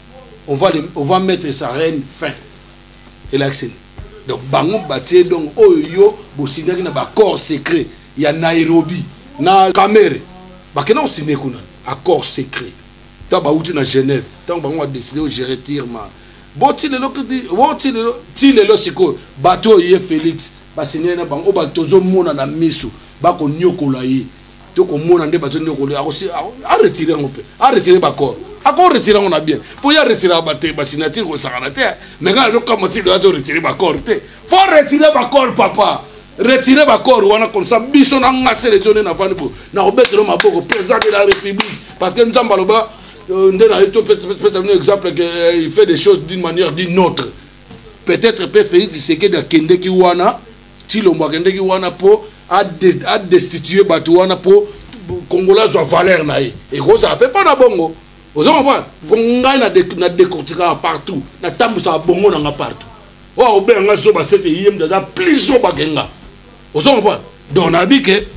on va, les, on va mettre sa reine fin elakisi nini donc bango batie donc oyo oh, yo bosignaki na baaccord secret ya nairobi na kamere bakenda kosigne kuna accord secret ntango bauti na genève ntango bango badeside ogere tirma bo ti lelo bo ti lelo ti lelo sikoyo bato oyo ye félix basignaki na bango oyo bato tozomona na miso bakonyokola ye to komona nde bazo nde kolia akosi a retirer yango mpe a retirer baccord ako retirer yango na bien mpo ya retirer bate basignature kosakana te mais ngai nazokama tido azo retirer baccord te fo retirer baccord papa retirer baccord wana comme ça biso na nga selection nde nafandi po nakobetelo maboko président de la république parce que nzambe aloba euh, nde naye topesa bino exemple que euh, il fait des choses d'une manière d'une autre peut-être mpe félix tshisekedi akendeki wana Tshilombo akendeki wana po a destituer bato wana po Congolais azwa valeur na ye. Ekozala pe pa na bongo. Ozo comprendre? Po ngai na decortikaka partout, na tambusaka bongo na nga partout. Oyo akobenga nga zoba seke ye mda aza plus zoba ke nga. Ozo comprendre? Donc nayebi ke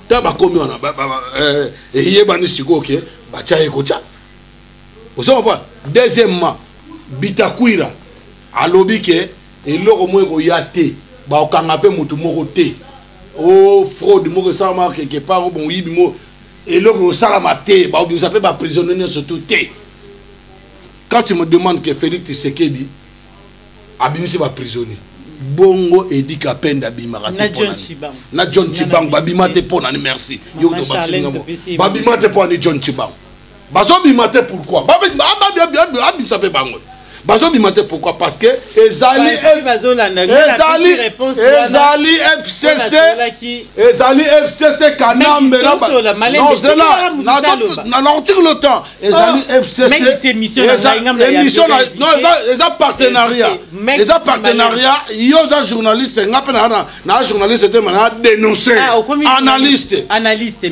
ta bakomi wana eh, eyebani sikoyo ke batya ye kotya. Ozo comprendre? Deuxièmement, Bitakwira alobi ke Eloko moko ekoya te, bakokanga mpe moto moko te. O fraude moko esalamaka quelque part, o moyibi moko, eloko ekosalama te, bakobimisa mpe ba prisonniers nyonso tout te. Quand tu me demandes que Felix Tshisekedi abimisi ba prisonniers, bongo Edi Kapenda abimaka te mpo na nini? Na John Tshibangu babima te mpo na nini? Merci. Yo tobakisi ngambo. Babima te mpo na nini John Tshibangu? bazobima te pourquoi abimisa mpe bango bazobima te pourquoi parce que ezali ezali ezali fcc ezali fcc kanambe nozela nakotikela otan ezali fcc émission eza partenariat eza partenariat yo oza journaliste nga mpe naa journaliste te ma naa dénonce analyste analyste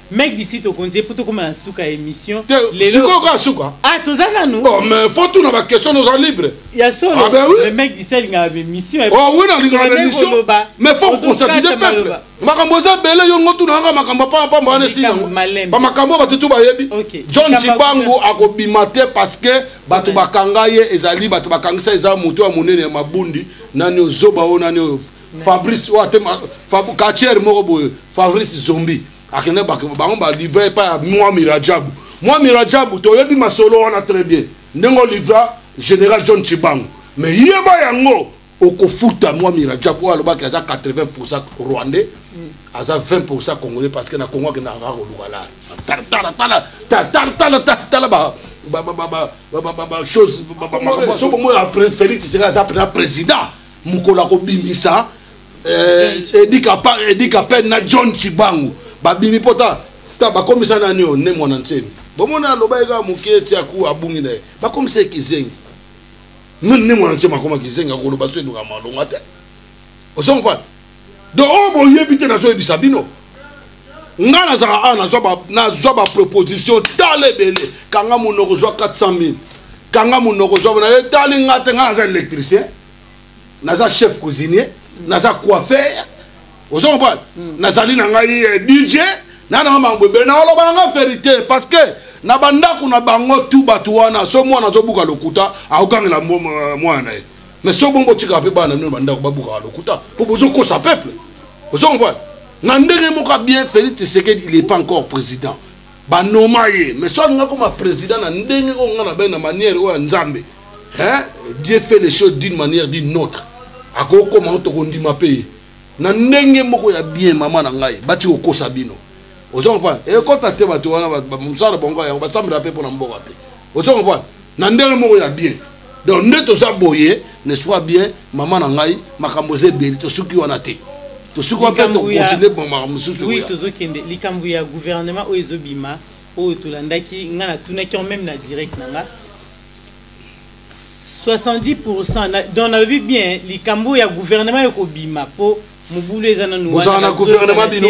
Mec d'ici to konje poto koma na suka emission. Lelo siko ka suka. Ah toza nanu. Oh mais faut tout na ba question nous en libre. Ya solo. Ah ben oui. Le mec d'ici il na émission. Oh oui na linga na émission. Mais faut conscientiser peuple. Makambo za bele yo ngotu na nga makambo pa pa mbane si yango. Ba makambo ba tutu ba yebi. John Chibangu akobima te parce que bato bakanga ye ezali bato bakangisa eza moto ya monene ya mabundi nani ozoba o nani fabrice oyo atema katiere moko boye fabrice zombi akende bango balivre epai ya mwa mirajabu mwa mirajabu toyebi masolo wana très bien ndenge olivra général john chibango me yeba yango okofuta mwa mirajabu oyo alobaki aza 80 pourcent rwandais mm. aza 20 pourcent congolais parce que na congo akendaka kaka koluka laa talatala chose soki omoi apres felix tseka aza mpena président mokolo akobimisa eh, edi kapene na john cibangu babimi mpo ta ta bakomisa nani oyo ne mwana nsemi bomona aloba ye kaka moke ti aku abungi na ye bakomisa ye kizengi ne mwana nsemi akoma kizengi akoloba so elukaka malonga te ozongo mpana donc oyo boyebi te nazoyebisa bino ngai nazalaka awa nazwa baproposition tala ebele kanga monoko zwa 400 000 kanga monoko zwa na etali ngai te ngai naza électricien naza chef cuisinier naza coiffeur ozo comprendre hmm. nazali na ngai eh, dj na nanga mambo ebele naoloba na ngai verité parce que na bandako na bango tu bato wana so mwana azobuka lokuta akogangela mwana na ye mais soki bongo botikaka mpe bana nino bandako babukaka lokuta mpo bozokosa peuple ozo comprendre na ndenge moko bien félix tshisekedi il est pas encore président banoma ye mais so alinga koma président na ndenge oyo ngai nabai na manière oyo ya nzambe dieu fait les choses d'une manière d'une autre akoki koma ngo tokondima mpe ye na ndenge moko ya bien mama na ngai bati kokosa bino ozo comprendre ekota te bato wana mosala bango yango basambela mpe mpo na mboka te ozo comprendre na ndenge moko ya bien donc nde toza boye n'est-ce pas bien mama na ngai makambo eza ebele tosuki wana te tosuki wana mpe tokontinue bomaka mosusu oui tozokende likambo ya gouvernement oyo ezobima oyo tolandaki ngai natunaki yango meme na direct na ngai 70 pourcent donc nalobi bien likambo ya gouvernement ekobima mpo mobulu eza nanu wana na gouvernement bino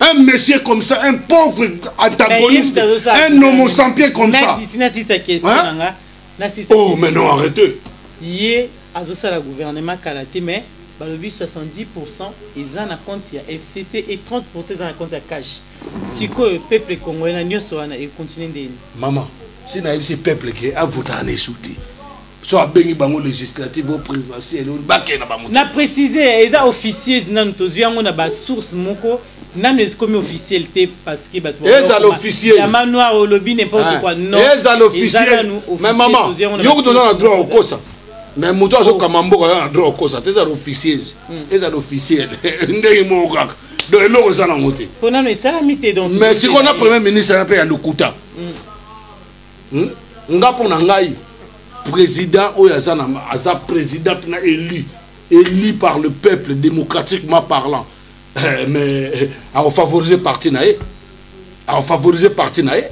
un monsieur comme ça, un pauvre antagoniste, un homo sapiens comme ça. Hein? Oh, mais non, arrêtez. Yé, azosala gouvernement kalaté, mais balobi 70% eza na compte ya fcc et 30% eza na compte ya cash sikoyo peuple congolais na nyonso wana econtinue ndeni mama si nayebisi peuple ke avotaka na esu te so abengi bango législative o présidentielle oyo bakee na bango na précise eza officieuse nanu tozwi yango na basource moko nanu ekomi officiel te parce que bato ezala officieuseyama noir olobi n'importe ah. quoi non ezala officiel mais maman yo kutu oza na droit okosa mais moto azokama mboka aza na droit okosa te ezala officieuse hmm. ezala officiel ndenge moko kaka donc eloko eza nango te mais sikoyo na premier ministre na mpe ya lokuta hmm. hmm? nga mpo na ngai président oyo aza na aza président na élu élu par le peuple démocratiquement parlant eh, mais eh, afavorise parti na ye afavorise parti na ye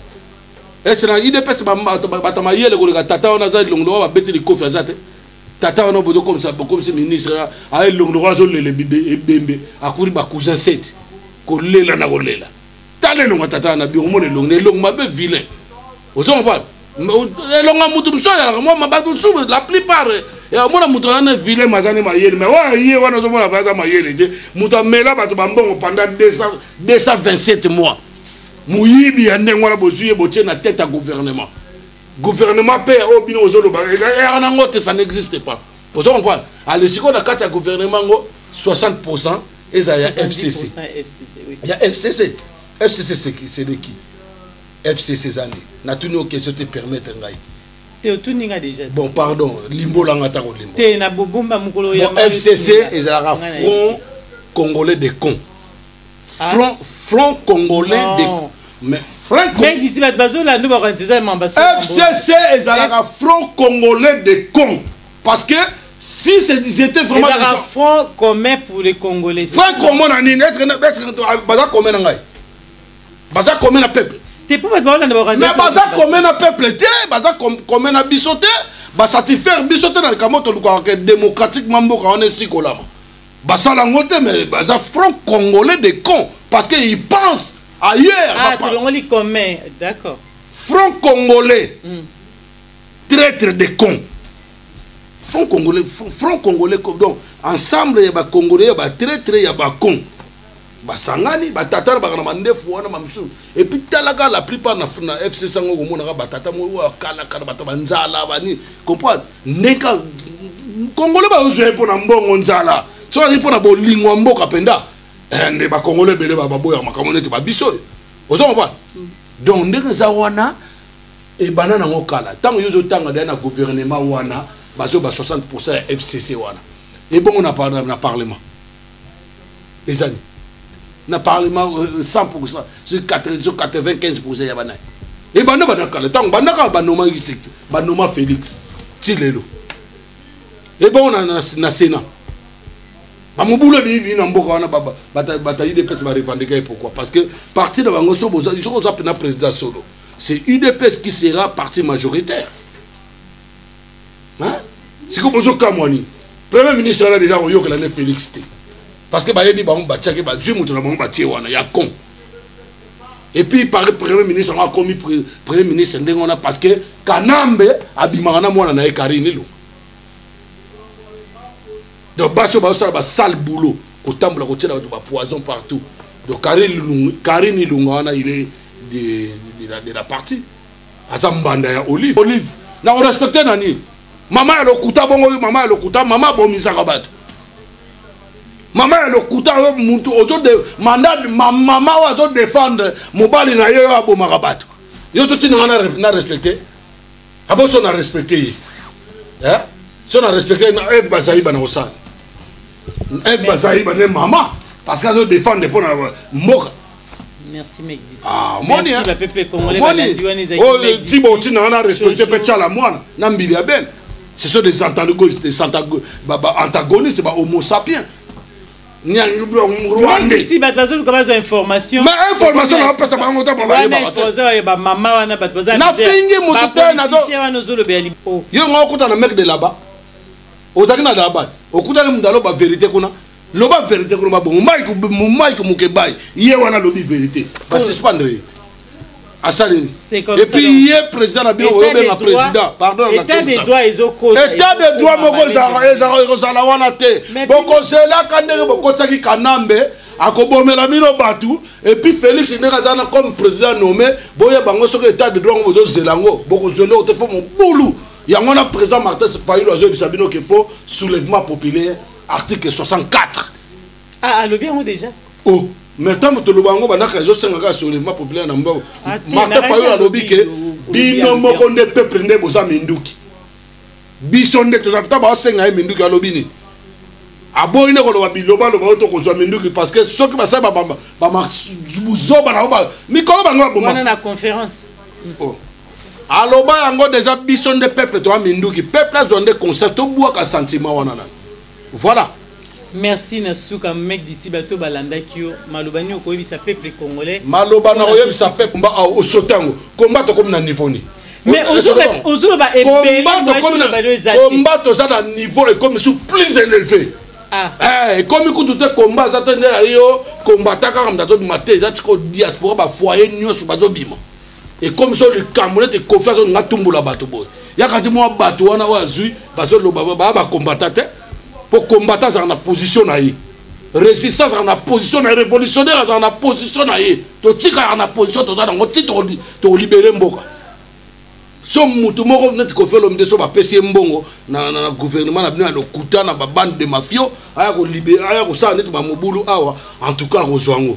ese na idps bato mayele koleka tata wana aza elongo lokola babeti likofi aza te tata wana bozokomisa bokomisi ministre aye elongo lokola azolela ebembe akuri bacousin 7 kolela na kolela tala elonga tata na biro mona elongi na elongi mabe vilain ozo comprendre elonga moto mosusu azalaka mwa bato mosusu la plupart omona moto aza na vilain maza nde mayele mai oyo aye wana ozomona mpe aza mayele te moto amela bato bambongo pendant 227 mois moyibi ya ndenge wana bozwi ye botie na tete ya gouvernement gouvernement mpe ya oyo bino ozoloba eyaka nango te ça n'existe pas ozo comprendre ale sikoyo na kati ya gouvernement yango 60 pourcent eza ya fcc ya fcc fcc c'est de qui fcc eza nde natuni yo question te permettre ngai te otuni nga déjà bon pardon limbolanga ta kolimbo te na bobomba mokolo ya fcc ezalaka front congolais de con ah. front front congolais de mais fcc ezalaka front congolais de con Parce que si c'était vraiment des gens... front commun pour les Congolais. Front commun na nini? Être être baza commun na ngai. Baza commun na peuple. T'es pas baza na organisation. Mais baza commun na peuple te, baza commun na biso te, ba satisfaire biso te na likambo to luka que démocratiquement mboka on est si kolama. Basala ngo te mais baza front congolais des cons parce que ils pensent ailleurs. Ah, tu l'ongoli commun, d'accord. Front congolais. Mm. traitre de con front congolais front congolais donc ensemble ya bacongolais ya batraitre ya bacon basangani batata na baka na mandefu wana mamisusu epuis talaka la plupart na, na fcc yango komonaka batata moko akalakala bata banzala bani comprendre ndenge kongole bazozwa ye mpo na mbongo nzala soki azali mpo na bolingo ya mboka mpenza eh, nde bakongole ebele baboyaka makambo neti babiso oyo ozo comprendre mm. donc ndenge eza wana Ebanda nango kala tango yo ozo tanga deja na gouvernement wana bazo ba 60% ya FCC wana. Ebongo na par na parlement. Ezani na parlement 100% euh, sur 95% ya bana e banda banda kala ntango banda kaka banoma sekte banoma félix ti lelo ebongo na, na, na sénat bamobulu ebimi bimi na mboka wana bata udps barevandika ye pourquoi parce que parti na bango soki oza mpena président solo c'est udps qui sera parti majoritaire hein? sikoyo bozokamwa nini premier ministre wana deja koyokela nde félix te parce que bayebi bango batiaki bazwi moto na bango batie wana ya con et puis par premier ministre yango akomi premier ministre ndenge wana parce que kanambe abimaka na mwana na ye karine elonga donc basi oyo bazosala basale boulot kotambola kotyela bato bapoison partout donc karine ilunga wana ile de, de, la, de la partie aza mbanda ya olive olive na korespecte na nini mama ya lokuta bongo oyo mama ya lokuta mama abomisaka bato mama ya lokuta oyo mutu mandat mama oyo azodefendre mobali na ye oyo abomaka bato yo totinanga na respecte abo so na respecte ye eh? so na respecte ye na eve bazayiba na kosala eve bazayiba nde mama parce que azodefendre mpo na mboka Merci mec dit. Ah, moni hein. Oyo tibo otina wana respecte mpe tyala mwana na mbili ya bene. Ce sont des antagonistes, des antagonistes, ba homo sapiens. si bato bazoluka bazwa information ma information naopesa bango ta babaozaye bamama wana bato bazanafingi moto te nawana ozolobela lipo yo nga okuta na mec de laba ozalaki na laba okutani moto aloba verité kuna loba verité kuna babongo mike mokebai ye wana alobi verité basuspendre ye asaleli epuis ye président na bino oyobenga président pardon état de droit moko ekozala wana te bokozelaka ndenge bokotisaki kanambe akobomela bino bato epuis félix ndenge aza na comme président nommé boyeba yango soki état de droit yango bozozela yango bokozwa eloko te fo mobulu yango wana président martin fayulu azoyebisa bino ke fo soulèvement populaire article 64 Ah, alobi yango deja. Oh, mais ntango toloba yango banaka ezosenga kaka soulèvement populaire na mbongo ah, mata fayolo alobi ke bino moko nde peuple nde boza minduki biso nde toza ntango baosenga ye minduki alobi nini aboyi nde koloba bilobaloba oyo tokozwa minduki parce que soki basali babuzoba na bango mikolo bango baboma oh. aloba yango deja biso nde peuple toya minduki peuple azwa nde concert tobwaka sentiment wana nani Voilà. Merci na suka mec d'ici bato balandaki yo maloba nini okoyebisa peuple congolais maloba na koyebisa peuple mba ah, osota yango komba tokomi na niveau nini mais ozoloba ebelekomba toza na niveau ekomi su plus élevé ah. eh, ekomi kutu te komba aza te nde ayo kombata kaka moto azobima te eza tiko diaspora bafoye nyonso bazobima ekomi so likambo nete kofi azolinga atumbola bato boye yaka ti mwa bato wana oyo azwi bazoloba baya bakombata te mpo kombata azalaka na position na ye résistance azalaka na position na ye révolutionnaire azalaka na position na ye totikalaka na position toza nango ti tokolibere mboka so motu moko neti kofi olomide so bapesi ye mbongo na, na, na gouvernement na bino ya lokuta na babande de mafio aya kolibere aya kosala neti bamobulu awa en tout cas akozwa yango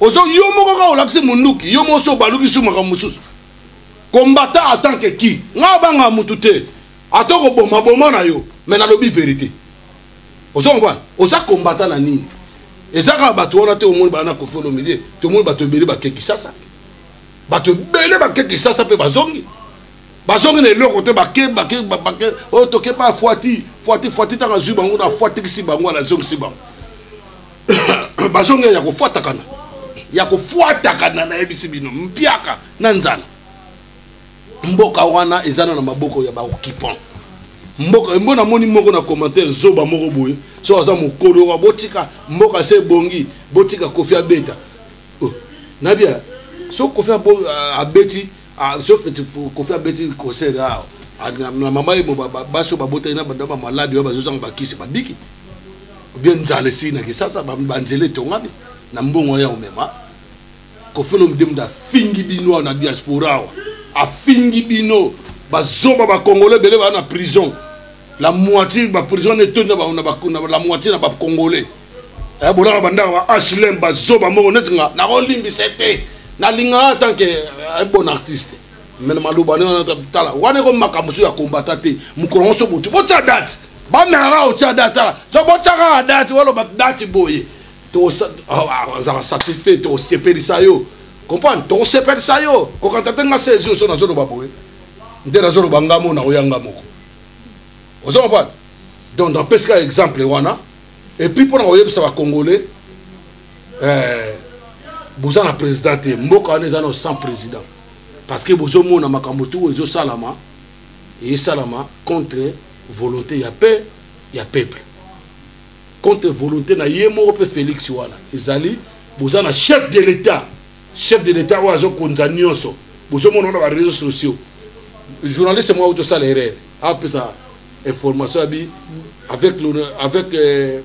ozo yo moko kaka olakisi munduki yo moko so obaluki su makambo mosusu combattant en tant que qui nga obanga mutu te ata okoboma boma na yo me nalobi verité ozo comprendre oza combattant na nini eza kaka bato wana te omoni bana kofi olomide tomoni bato ebele bake kisasa bato ebele bake kisasa mpe bazongi bazongi na eloko te bake bake bake oyo oh, toke ba fuati fuati fuati ntango azwi bango na fuatikisi bango anazongisi bango bazongi ya kofuatakana ya kofuatakana nayebisi bino mpiaka na nzala mboka wana eza na maboko ya baoccupant mboka mbo namoni moko na commentaire zoba moko boye so aza mokolo wa botika mboka se ebongi botika kofi abeta oh, nabia so kofi abeti Ah, sauf kofi abeti concert awa ah, na mama ye basi oyo babotaki na banda bamaladi oyo bazozanga bakisi babiki obie nzala esili na kisasa banzela etongami na mbongo wana ya komema kofi olomide moto afingi bino awa na diaspora awa afingi bino bazoba bakongole ebele baa na prison la moitié baprison etondi na la moitié na bacongolais eh, bolaka bandaka ba hlm bazoba moko neti nga nakolimbisa te nalingaka atanke eh, bon artiste mene maloba nde wana tala wana eko makambo so ya kombata te mokolo yango so botu botya date bameyaka otya date tala so botyaka date waloba date boye azalaka satisfait tokosepelisa yo comprendre tokosepelisa yo kokanta te nga sezi oso nazoloba boye nde nazoloba nga mona oya nga moko ozo comprendre donc napesika exemple wana et puis pona koyebisa ba congolais eh, boza na président te mboka wana eza na sans président parce que bozomona makambo tu ezosalama esalama contre volonté ya paix ya peuple contre volonté na ye moko mpe félix wana ezali boza na chef de l'état chef de l'état oyo azokonza nyonso bozomona wana ba réseaux sociaux journaliste moko tosala erreur apesa information ya bi avec le, avec euh,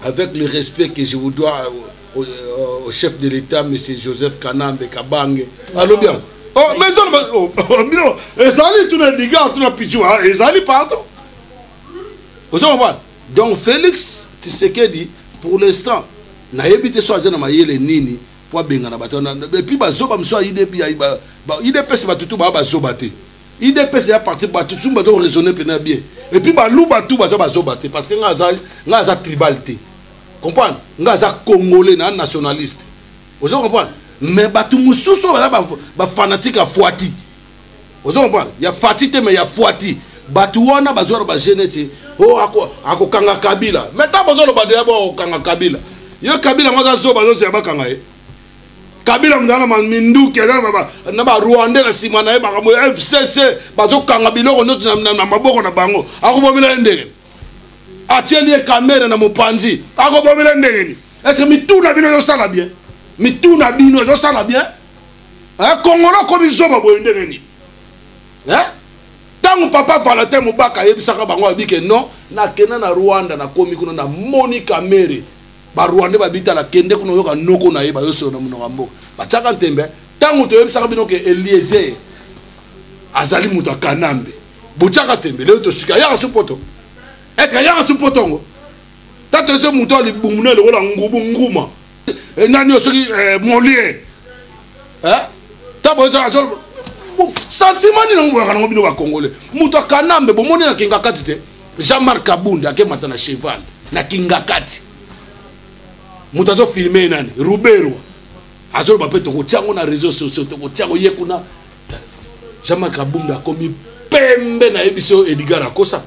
avec le respect que je vous dois euh, au, euh, au chef de l'État M. Joseph Kanambe Kabange alobi yango oh, mais oh, oh, bino ezali tuna liga tuna pichu ah, ezali partout oza comprendre donc Félix Tshisekedi pour l'instant nayebi te so aza na mayele nini mpo abengana bato wana epuis bazoba mosusu ya idps bato tu baa bazoba te udps ya parti bato tusu baza koraisonne mpena bien epuis baluba tu baza bazoba te parce que nga aza, nga aza tribal te comprendre nga aza congolais na nationaliste ozo comprendre mais bato mosusu oyo baza bafanatike ya fuati ozo comprendre ya fati te mais ya fuati bato wana bazwara bagene ti o oh, akokanga kabila mai ntango bozoloba deya bo akokanga kabila yo kabila yango aza zoba azozela bakanga ye kabila mzala na minduki aza na barwandais na nsima na ye makambo ya fcc bazokanga biloko noti na maboko na bango akobomela ye ndenge atieli ye kamere na mopanzi akobomela ndenge ni eske mituna bino ezosala bien mituna bino ezosala bien eh, kongolo akomi zoba boye ndenge nini eh? ntango papa valentin mobaka ayebisaka bango abike non nakenda na rwanda nakomi kuna namoni kamere ba rwandais babitala kende kuna oyoka noko na ye bayosolo na monoko ya mboka batiaka ntembe ntango toyebisaka bino ke eliezer azali moto ya kanambe botiaka ntembe lelo tosuki ayaka su poto etre ayaka su poto yango ta toyese moto ya libumu ne lokola ngubu nguma eh, nani oyo soki eh, molie eh? ta boyesaka sentiment nini yango boyaka nango bino bakongole moto ya kanambe bomoni na kinga kati te jean marc kabund akemata na cheval na kingakati moto azofilme ye nani ruberwa azoloba mpe tokotya yango na réseau sociaux tokotya yango ye kuna jean marc kabund akomi pembe na ye biso edgar akosa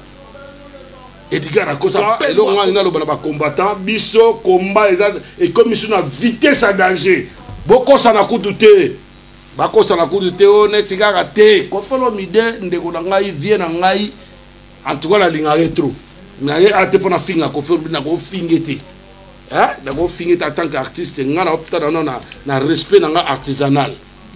edgar akosa eloko ngai naloba na bacombattant biso komba eza ekomi biso na vitesse ya danger bokosana kutu te bakosana kutu te o oh, neti kaka te kofolo mide ndeko na ngai vie na ngai en tout cas nalingaka ye trop naye a te mpo nafinga kofi olobi nakofinge te nakofinge te en tant que artiste ngai naoptana no na respect na ngai artisanal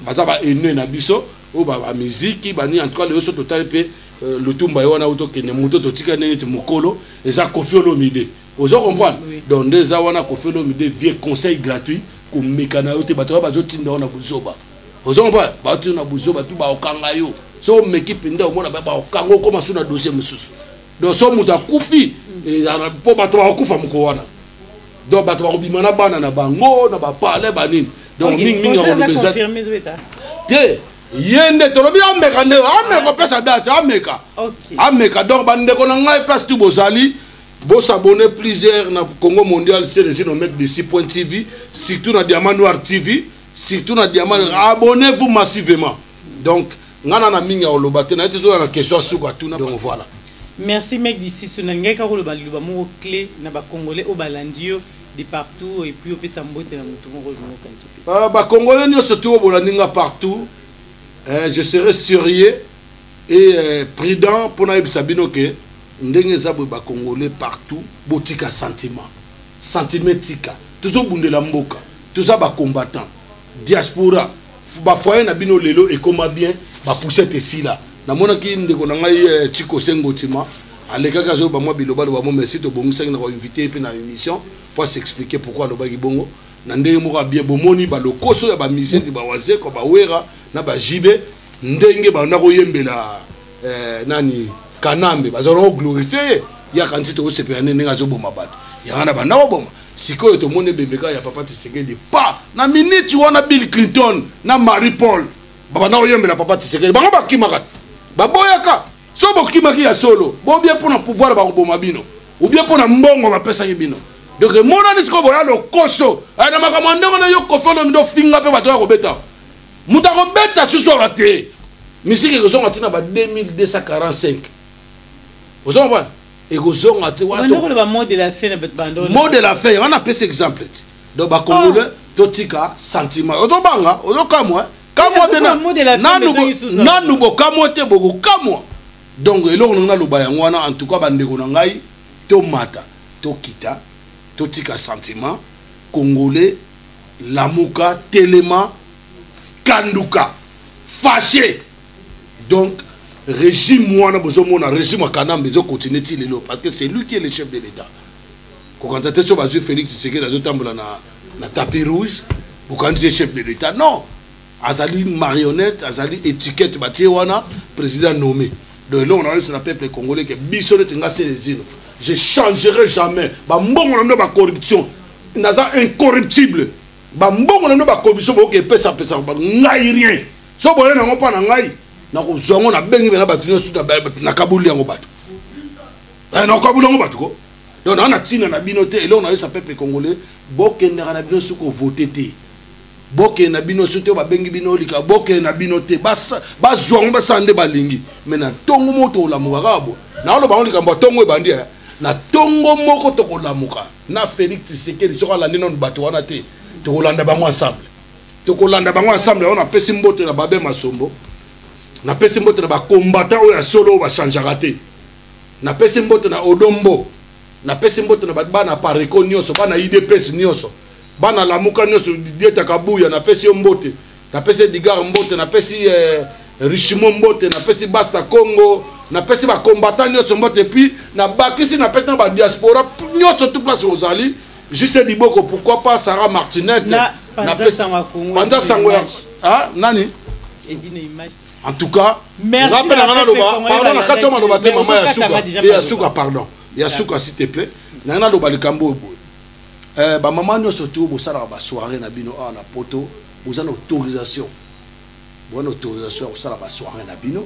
baza ba haineux na biso oyo bamiziki bani en tout cas lelo so totali mpe euh, lutumba ye wana oyo tokende moto totika nde neti mokolo eza kofi olomide ozo comprendre donc nde eza wana kofi olomide vie conseil gratuit komeka na yo te bato oyo bazotinda yo na buzoba ozo comprendre batu na buzoba tu baokanga yo so omeki mpenza omona baokanga okoma su na dossier mosusu donc so moto akufi mpo bato bakokufa moko wana donc bato bakobima na bana na bango na bapale banini donc mingi mingi akolobeza te ye nde tolobi ameka nde ameka opesa date ameka ameka donc bandeko na ngai place tu bozali bosabone plusieurs na congo mondial seresino mec d'ici point tv surtout na diamant noir tv surtout na diamant abonnez vous massivement donc nga na na mingi ya koloba te naye tezoya na question ya suka tuna donc voilà merci mec disisu nalingaki kaka koloba liloba moko clé na bacongolais oyo balandi yo de partout et puis opesa mbote na motu moko olingokaki euh, bacongolais nyonso tu oyo bolandi nga partout euh, je serai sérieux et euh, prudent mpo nayebisa bino ke ndenge eza boye bacongolais partout botika sentiment sentiment etika tozobundela mboka Toza ba combattants. Diaspora. Ba foyer na bino lelo ekoma bien. Ba poussette esila. Namonaki ndeko na ngai eh, Chico Sengotima alekaki azoloba mwa bilobaloba mo merci tobongisaki na koinvite ye mpe na émission mpo asexplike pourkui alobaki bongo na ndenge moko ya bien bomoni balokoso ya bamiseki bawazeko bawera na bajibe ndenge banda koyembela eh, nani kanambe bazalaki koglorifie ye yakanisi tokosepela nde ndenge azoboma bato yanga na banda koboma Sikoyo tomoni ebembe kaka ya papa Tshisekedi pa na minute wana Bill Clinton na Marie Paul babanda koyembela papa Tshisekedi bango bakimaka baboyaka so bokimaki ya solo bobie mpo na pouvoir bakoboma bino ubie mpo na mbongo bapesaki bino donc emonani sikoyo boya lokoso eh, na makambo ya ndenge na yo kofando mido finga mpe bato ya kobeta moto akobeta susu awa te misiki ekozonga ntina ba 2245 ozonga bwana ekozonga te wana ko ba mot de la fin na bet bando mot de la fin wana pese exemple ti donc ba congolais oh. to tika sentiment ozo banga ozo kamwa kamwa te nanu nanu bo kamwa te boko kamwa donc eloko nanga na loba yango wana en tout cas ba ndeko na ngai to mata to kita to tika sentiment congolais lamuka telema kanduka fâché donc regime wana bozomona regime ya kanambe ezo continue ti lelo parce que c'est lui qui est le chef de l'état kokanisa te so bazwi félix tshisekedi azotambola na, na tapis rouge bokanisi ye chef de l'état non azali marionnette azali étiquette batie wana président nommé donc eloko na oyebisa na peuple congolais ke biso neti nga selezino je changerai jamais bambongo na bino bacorruption naza incorruptible bambongo na bino bacorruption boyoki epesapesaka ngai rien so boye nango mpa na ngai nakozwa yango nabengi bena bato nyonso nakaboli yango bato eh, nakaboli yango bato ko donc naa na ntina na bino te eloko nayosa peuple congolais bokendaka na bino soki ovote te bokende na bino soki te babengi bino olika bokende na bino te bazwa yango basala nde balingi me na ntongo moko tokolamuka kaka boye naoloba yango likambo ya ntongo ebandi eh. na ntongo moko tokolamuka na félix tisekedi soki alandi nano bato wana te tokolanda bango ensemble tokolanda bango ensemble yango napesi mbote na babe masombo napesi mbote na bakombata oyo ya solo oyo bachangeaka te napesi mbote na odombo napesi mbote na bana pareko nyonso bana idps nyonso bana lamuka nyonso dietaka buya napesi yo mbote napesi edigar mbote napesi eh, richimo mbote napesi basta congo napesi bakombata nyonso mbote epuis nabakisi napesi na badiaspora nyonso tout place ozali Juste Biboko, pourquoi pas Sarah Martinette na, na Panza Sango ya ah, nani En tout cas, merci rappelle na ngana loba, pardon na kati maloba te maman ya suka, te ya suka pardon. Ya suka s'il te plaît, na ngana loba likambo boye. Euh ba maman nyoso tout bosalaka ba soirée na bino awa na poto, boza na autorisation. Boza na autorisation ya kosala ba soirée na bino.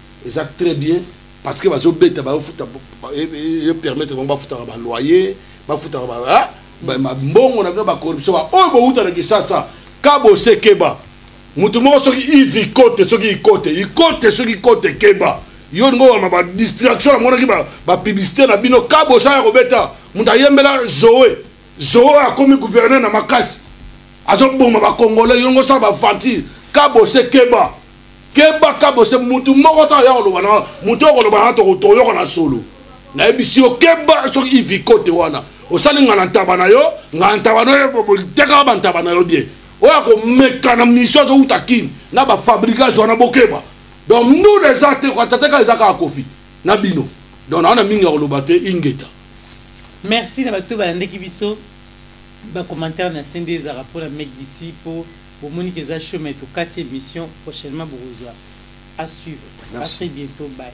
eza très bien parce que bazo beta ba futa e permettre bango ba futa ba loyer ba futa ba ah, ba mbongo na bino ba corruption ba oyo bo uta na kisasa ka bo se keba mutu moko soki ivi kote soki ikote ikote soki kote keba yo ngo wa ba distraction na mona ki ba ba publicité na bino ka bo sa ya ko beta mutu ayembela Zoé Zoé akomi gouverneur na makasi azo boma ba congolais yo ngo sa ba fanti ka bo se keba keba kabose mutu moko to aya koloba na mutu oyo koloba na toyoka na solo nayebisi yo keba soki ivikote wana osali nga na ntaba na yo nga na ntaba na yo tekaka bantaba na yo bien oyo akomeka na mission azowuta kini na bafabrigage wana bokeba donc ndule eza te kwatateka eza kaka kofi na bino donc nawana mingi ya koloba te ingeta merci na bato balandaki biso bacommentaire na sende ezalaka mpo na mec d'ici mpo Bomoni que eza show mais tokati emission prochainement bokozua a suivre a très bientot bye.